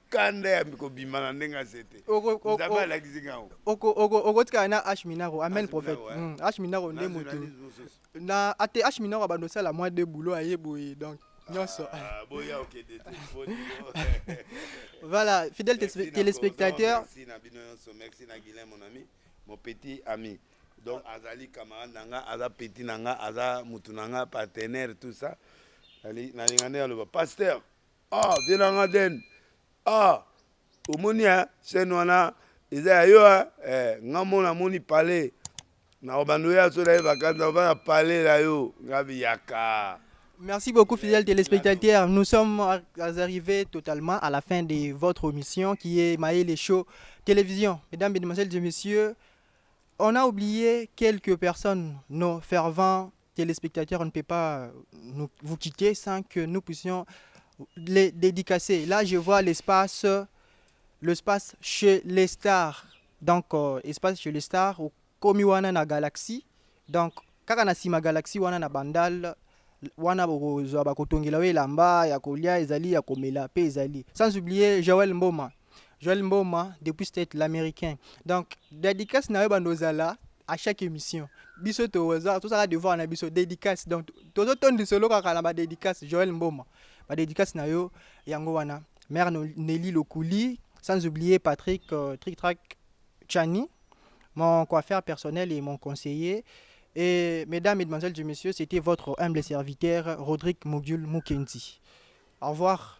kanda ya kobima na ndenge aze te nzambe alakisi ngai okotikala na h minaro amen prophète hmm, h minaro nde motu na ate h minaro abanda osala mwa de boulot aye boye donc nyonso ah, voilà fidèle téléspectateur merci na bino nyonso merci na guilin mon ami mon petit ami donc azali camarade na nga aza petit na nga aza motu na nga partenaire tout ça nalinga nde aloba pasteur Ah, vieux na nga Den. Ah, omoni hein, chaîne wana eza ya yo hein. Eh, nga mona moni palais. Na obando ya so na ye vacances na obanda palais na yo. Nga biyaka. Merci beaucoup, fidèles téléspectateurs. Nous sommes arrivés totalement à la fin de votre émission qui est Maï les Show Télévision. Mesdames, Mesdemoiselles et Messieurs, on a oublié quelques personnes, nos fervents Téléspectateurs, on ne peut pas nous, vous quitter sans que nous puissions les dédicacer. Là, je vois l'espace, l'espace chez les stars. Donc, euh, espace chez les stars, au Komiwana na Galaxy. Donc, kaka na sima Galaxy wana na Bandal, wana bokozwa bakotongela yo elamba ya kolia ezali ya komela pe ezali sans oublier Joël Mboma Joël Mboma depuis state l'américain. Donc dédicace na yo bando ozala à chaque émission. Biso toza tozala devoir na biso dédicace. Donc tozo tondi solo kaka na ba dédicace Joël Mboma. Ba dédicace na yo yango wana. Mère Nelly Lokuli, sans oublier Patrick euh, Trick Track Chani, mon coiffeur personnel et mon conseiller. Et mesdames, mesdemoiselles et messieurs, c'était votre humble serviteur Rodrigue Mogul Mukendi. Au revoir.